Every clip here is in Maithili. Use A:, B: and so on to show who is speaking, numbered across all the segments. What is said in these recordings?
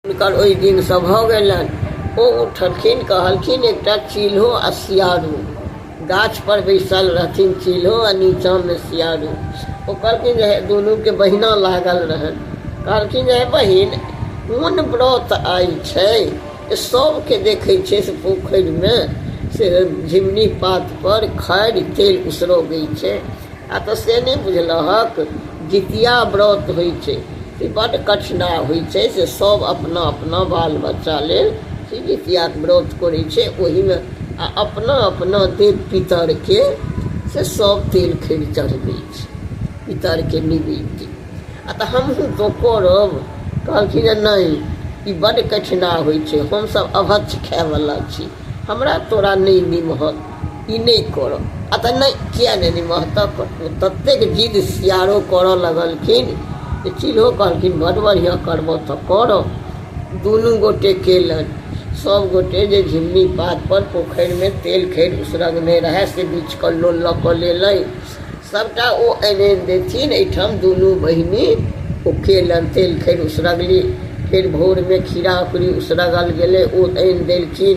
A: हुनकर ओहि दिनसँ भऽ गेलनि ओ उठलखिन कहलखिन एकटा चील्हो आ सियारू गाछपर बैसल रहथिन चील्हो आ नीचाँमे सियारू ओ कहलखिन जे हे दुनूके बहिना लागल रहनि कहलखिन जे हे बहिन कोन व्रत आइ छै जे सभके देखै छै से पोखरिमे से झिमनी पातपर खैर तेल उसरगै छै आ तऽ से नहि बुझलहक जितिया व्रत होइ छै से बड्ड कठिना होइ छै से सब अपना अपना बाल बच्चा लेल से जितियाके व्रत करै छै ओहिमे आओर अपना अपना देव पितरके से सब तेल खैर चढ़बै छै पितरके निवेद्य आओर तऽ हमहूँ तऽ करब कहलखिन जे नहि ई बड्ड कठिना होइ छै हमसब अभक्ष खाइवला छी हमरा तोरा नहि निमहत ई नहि करऽ आओर तऽ नहि किएक नहि निमहतऽ ततेक जिद सियारो करऽ लगलखिन जे चिल्हो कहलखिन बड़ बढ़िआँ करबऽ तऽ करऽ दुनू गोटे कयलनि सब गोटे जे झिल्ली पातपर पोखरिमे तेल खैर उसरगने रहै से बिछिकऽ लोल लऽ कऽ लेलै सबटा ओ आनि आनि देथिन अइठाम दुनू बहिनी ओ कयलनि तेल खैर उसरगली फेर भोरमे खीरा अकुरी उसरगल गेलै ओ आनि देलखिन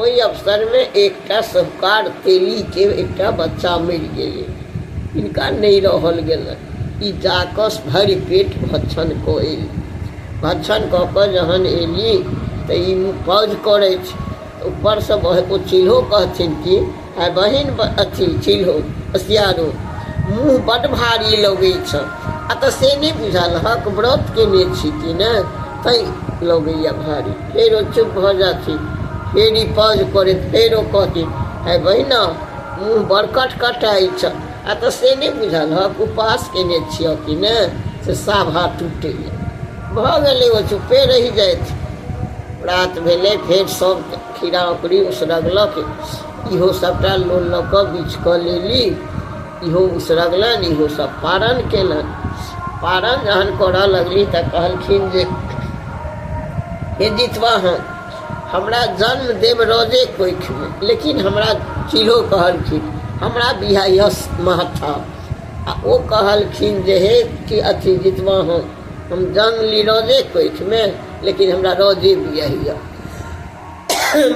A: ओहि अवसरमे एकटा सहुकार तेलीके एकटा बच्चा मरि गेलै हिनका नहि रहल गेलनि ई जा कऽ भरि पेट भक्षण कऽ अयली भक्षण कऽ कऽ जहन अयली तऽ ई पाउज करैत छै ऊपरसँ ओ चील्हो कहथिन कि आ बहिन अथी चिल्हो सियारो मुँह बड्ड भारी लगै छ आ तऽ से नहि बुझल हक व्रत केने छी कि ने तै लगैया भारी फेरो चुप भऽ जाथि फेर ई पज करैत फेरो कहती है बहिना मुँह बड़ कटकटाइ छ आ तऽ से नहि बुझल हक उपास केने छियह कि ने से साभा टूटैया भऽ गेलै ओ चुपे रहि जाथि रात भेलै फेर सब खीरा ओकरी उसरगलक इहो सभटा लोन लऽ कऽ बीछ कऽ लेली इहो उसरगलनि इहो सभ पारण केलनि पारण जहन करऽ लगली तऽ कहलखिन जे हे जितवाहन हमरा जन्म देव रजे कोखिमे लेकिन हमरा चील्हो कहलखिन हमरा बिहायस महथा आ ओ कहलखिन जे हे कि अथी जितवाहन हम जन्म ली रजे कोखिमे लेकिन हमरा रजे बियहिया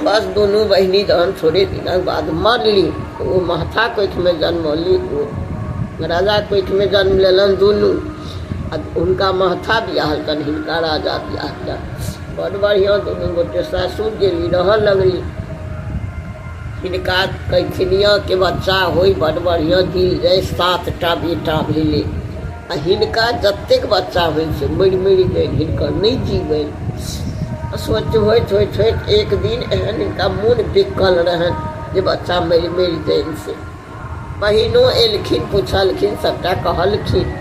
A: बस दुनू बहिनी जहन थोड़े दिनक बाद मरली तऽ ओ महथा कोखिमे जनमौली ओ राजा कोखिमे जन्म लेलनि दुनू आ हुनका महथा बियाह कनि हिनका राजा बियाह कयलनि बड़ बढ़िआँ दुनू गोटे सासुर गेली रहऽ लगली हिनका कैथिनियाँके बच्चा होय बड़ बढ़िआँ दी जाय सातटा बेटा भेलै आ हिनका जतेक बच्चा होइ छै मरि मरि गेल हिनकर नहि जीवै सोच होइत होइत होइत एक दिन एहन हिनका मोन बिकल रहन जे बच्चा मरि मरि जाइन से बहिनो एलखिन पुछलखिन सभटा कहलखिन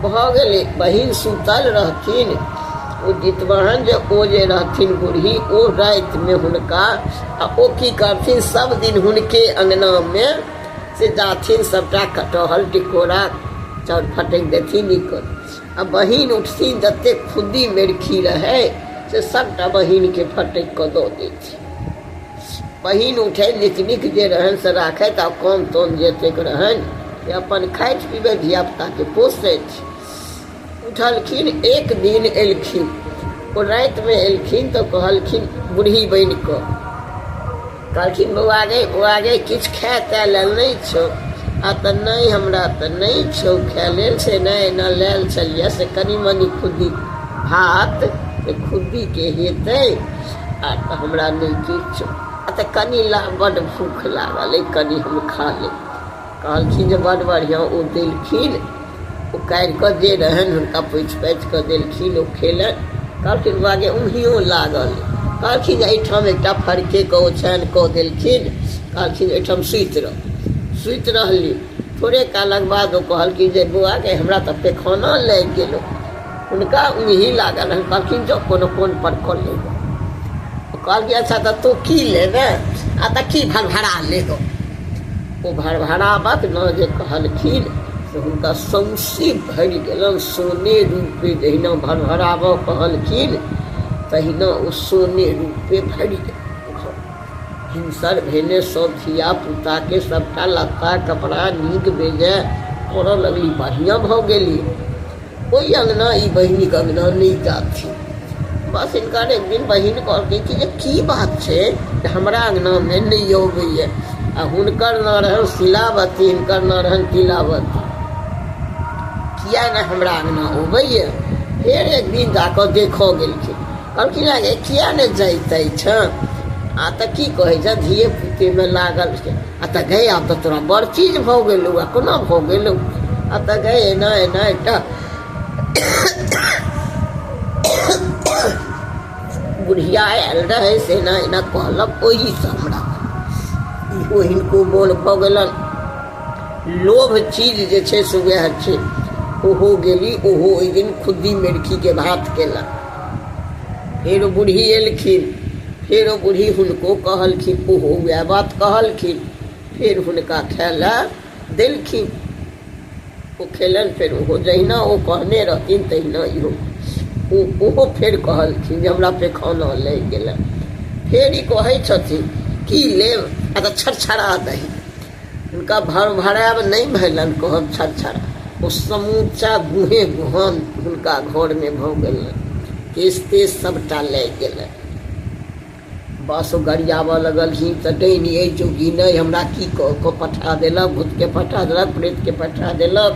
A: भऽ गेलै बहिन सुतल रहथिन ओ जितवाहन जे ओ जे रहथिन बूढ़ी ओ रातिमे हुनका आ ओ की करथिन सभ दिन हुनके अङ्गनामे से जाथिन सभटा कटहल टिकोरा चाउर फटकि देथिन ई कर आ बहिन उठथिन जतेक खुद्दी मेरखी रहै से सभटा बहिनके फटकि कऽ दऽ देथिन बहिन उठै नीक नीक जे रहनि से राखथि आ कम तम जतेक रहनि से अपन खाइत पीबै धियापुताके पोसथि उठलखिन एक दिन एलखिन ओ रातिमे एलखिन तऽ कहलखिन बूढ़ी बनि कऽ कहलखिन बौआ गे बौआ गे किछु खाय ताय लेल नहि छौ आ तऽ नहि हमरा तऽ नहि छौ खाय लेल से नहि एना लेल छलियै से कनि मनि खुद्दी भात से खुद्दीके हेतै आ तऽ हमरा नहि किछु आ तऽ कनि ला बड्ड भूख लागल अइ कनि हम खा लेब कहलखिन जे बड बढ़िआँ ओ देलखिन ओ काढ़ि कऽ जे रहनि हुनका पोछि पाछि कऽ देलखिन ओ खेलनि कहलखिन बौआ जे उम्हियो लागल कहलखिन जे एहिठाम एकटा फड़केके ओछानि कऽ देलखिन कहलखिन एहिठाम सुति रह सुति रहली थोड़े कालक बाद ओ कहलखिन जे बौआ गै हमरा तऽ पैखाना लागि गेलौ हुनका उही लागल हन कहलखिन जो कोनो कोन पर कऽ ले गो तो कहलखिन अच्छा तो तू की लेबे आ तो की भरभरा ले गो ओ भरभरावत न जे कहलखिन से हुनका सौंसे भरि गेलन सोने रूपे जहिना भरभराबऽ कहलखिन तहिना ओ सोने रूपे भरि गेल हिंसर भेने सब धिया पुताके सभटा लत्ता कपड़ा नीक बेजाय करऽ लगली बढ़िआँ भऽ गेली ओहि अङ्गना ई बहिनीके अङ्गना नहि जाथिन बस हिनका एक दिन बहिन कहलकै कि जे की बात छै जे हमरा अङ्गनामे नहि अबैए आ हुनकर नाम रहनि शिलावती हिनकर नाम रहनि तिलावती किया नहि हमरा अङ्गना अबैए फेर एक दिन जा कऽ देखऽ गेलखिन कहलखिन हे किया नहि जाइत अछि आ तऽ की कहै छै धिये पुतेमे लागल छै आ तऽ गए आब तऽ तोरा बड़ चीज भऽ गेलौ आ कोना भऽ गेलौ आ तऽ गए एना एना एकटा बुढ़िया आयल रहै से एना एना कहलक ओहीसँ हमरा इहो हिनको मोन भऽ गेलनि लोभ चीज जे छै से उएह छै ओहो गेली ओहो ओहि दिन खुद्दी मेरखीके भात केलक फेर ओ बूढ़ी एलखिन फेर ओ बूढ़ी हुनको कहलखिन ओहो उएह बात कहलखिन फेर हुनका खाय लए देलखिन ओ खेलनि फेर ओहो जहिना ओ कहने रहथिन तहिना इहो ओ ओहो फेर कहलखिन जे हमरा पेखाना लागि गेलै फेर ई कहै छथिन की लेब आ तऽ छरछरा दही हुनका भरभराएब नहि भेलनि कहब छर छर ओ समूचा गुहे गुहन हुनका घरमे भऽ गेलनि केश तेश सभटा लागि गेलनि बस ओ गरियाबऽ लगलखिन तऽ डैनी अइ जोगी नहि हमरा की कऽ कऽ पठा देलक भूतके पठा देलक प्रेतके पठा देलक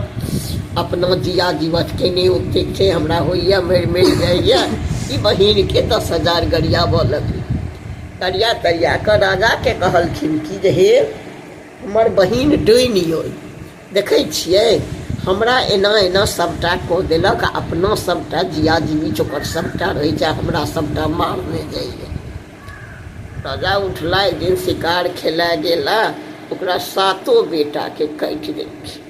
A: अपना जिया जीवत केने ओतेक छै हमरा होइए मरि मरि जाइए ई बहिनके दस हजार गरियाबऽ लगली तरिया तरिया कऽ राजाके कहलखिन कि जे हे हमर बहिन डोनि अइ देखै छियै हमरा एना एना सभटा कऽ देलक आ अपना सभटा जिया जीवित ओकर सभटा रहै छै आ हमरा सभटा मारने जाइए राजा उठला एक दिन शिकार खेलाय गेला ओकरा सातो बेटाके काटि देलखिन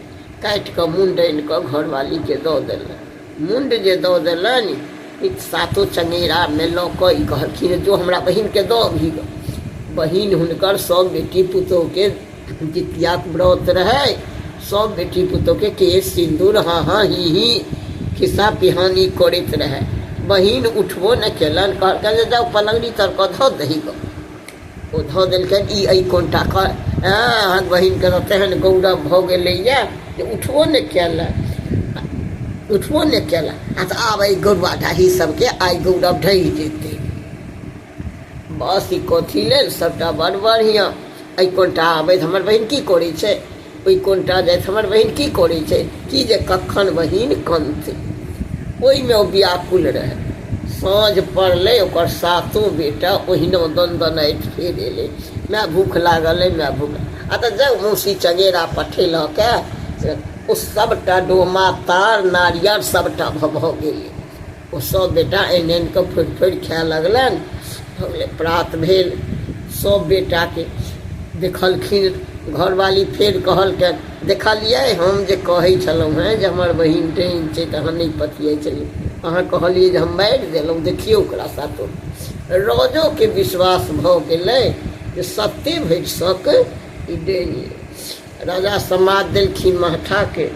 A: काटि कऽ मुँह डालि कऽ घरवालीके दऽ देलक मुण्ड जे दऽ देलनि ई सातो चंगेरामे लऽ कऽ ई कहलखिन जो हमरा बहिनके दऽ अबही गऽ बहिन हुनकर सभ बेटी पुतोहूके जितियाक व्रत रहै सभ बेटी पुतोहूके केश सिन्दूर हाँ हाँ ही ही खिस्सा पिहानी करैत रहै बहिन उठबो नहि केलनि कहलकनि जे जाउ पलङ्गड़ी तर कऽ धऽ दही गऽ ओ धऽ देलकै ई एहि कोनटा कऽ अहाँक बहिनके तऽ तेहन गौरव भऽ गेलैए जे उठबो नहि कयल उठबो नहि कयल आ तऽ आब एहि गौरवा ढाही सभके आइ गौरव ढहि जेतै बस ई कथी लेल सभटा बड़ बढ़िआँ एहि कोनटा आबै हमर बहिन की करै छै ओहि कोनटा जाइत हमर बहिन की करै छै कि जे कखन बहिन कनतै ओहिमे ओ व्याकुल रहै साँझ पड़लै ओकर सातो बेटा ओहिना दन दनाइत फेर एलै माय भूख लागल अइ माय भूख आ तऽ जाउ मौसी चगेरा पठेलक से ओ सभटा डोमा तार नारियर सभटा भऽ भऽ गेलै ओ सब बेटा आनि आनि कऽ फोड़ि फोड़ि खाए लगलनि भऽ गेलै प्रात भेल सब बेटाके देखलखिन घरवाली फेर कहलकनि देखलियै हम जे कहै छलहुँ हेँ जे हमर बहिन डैन छै तऽ अहाँ नहि पतियै छलियै अहाँ कहलियै जे हम मारि देलहुँ देखियौ ओकरा सातो राजोके विश्वास भऽ गेलै जे सत्ते भरि सक ई डैन राजा समाद देलखिन महठाके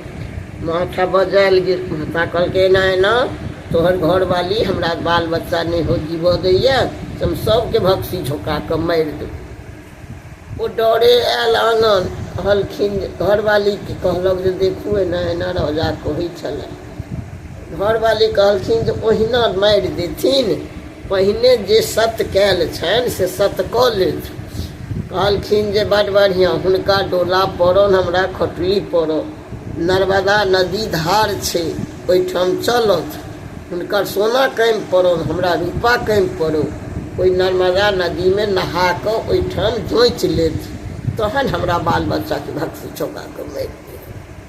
A: महठा बजायल गेल महता कहलकै एना एना तोहर घरवाली हमरा बाल बच्चा नहि हो जीवऽ दैए से हम सभके भक्सी झोका कऽ मारि देब ओ डरे आयल आनन्द कहलखिन जे घरवालीके कहलक जे देखू एना एना राजा कहै छलए घरवाली कहलखिन जे ओहिना मारि देथिन पहिने जे सत कयल छनि से सत कऽ लेथि कहलखिन जे बड बढ़िआँ हुनका डोला पड़ल हमरा खटुली पड़ल नर्मदा नदी धार छै ओहिठाम चलत हुनकर सोना कमि पड़ल हमरा रूपा कमि पड़ल ओहि नर्मदा नदीमे नहा कऽ ओहिठाम जोँचि लेथि तहन हमरा बाल बच्चाके भक्ति चौका कऽ मारि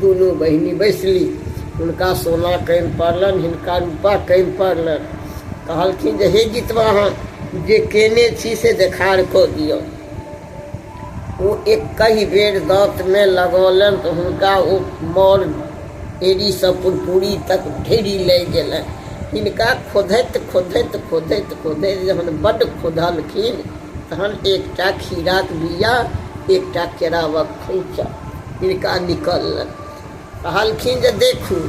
A: दुनू बहिनि बैसलि। हुनका सोना कानि पड़लनि, हिनका रूपा कानि पड़लनि। कहलखिन जे हे जितवा अहाँ जे केने छी से देखार कऽ दिअ। ओ एकहि बेर दाँतमे लगौलनि तऽ हुनका ओ मौर एड़ीसँ पुरपुरी तक ढेरी लागि गेलनि। हिनका खोधैत खोधैत खोधैत खोधैत जहन बड्ड खोधलखिन तहन एकटा खीराक बीया एकटा केरावक खोंइछा। हिनका निकललनि कहलखिन जे देखू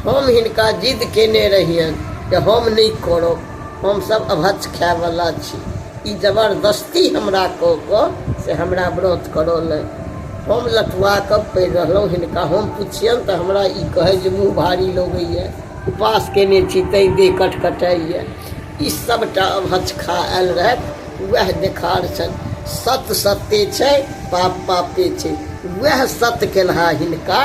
A: हम हिनका जिद केने रहियनि जे हम नहि करब हमसभ अभच खायवला छी ई जबरदस्ती हमरा कऽ कऽ से हमरा व्रत करौलनि हम लटुआ कऽ पड़ि रहलहुँ हिनका हम पुछियनि तऽ हमरा ई कहै जे मुँह भारी लगैए उपास केने छी तैँ देह कटकटाइए ई सभटा अभच खा आयल रहथि वएह देखार छनि सत सत्य छै पाप पापे छै वएह सत केनहा हिनका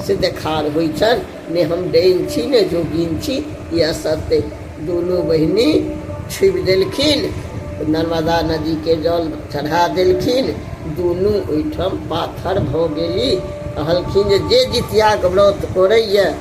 A: से देखार होइ छनि ने हम डैन छी ने जोगिन छी ई असत्य दुनू बहिनी छुबि देलखिन नर्मदा नदीके जल चढ़ा देलखिन दुनू ओहिठाम पाथर भऽ गेली कहलखिन जे जे जितियाके व्रत करैए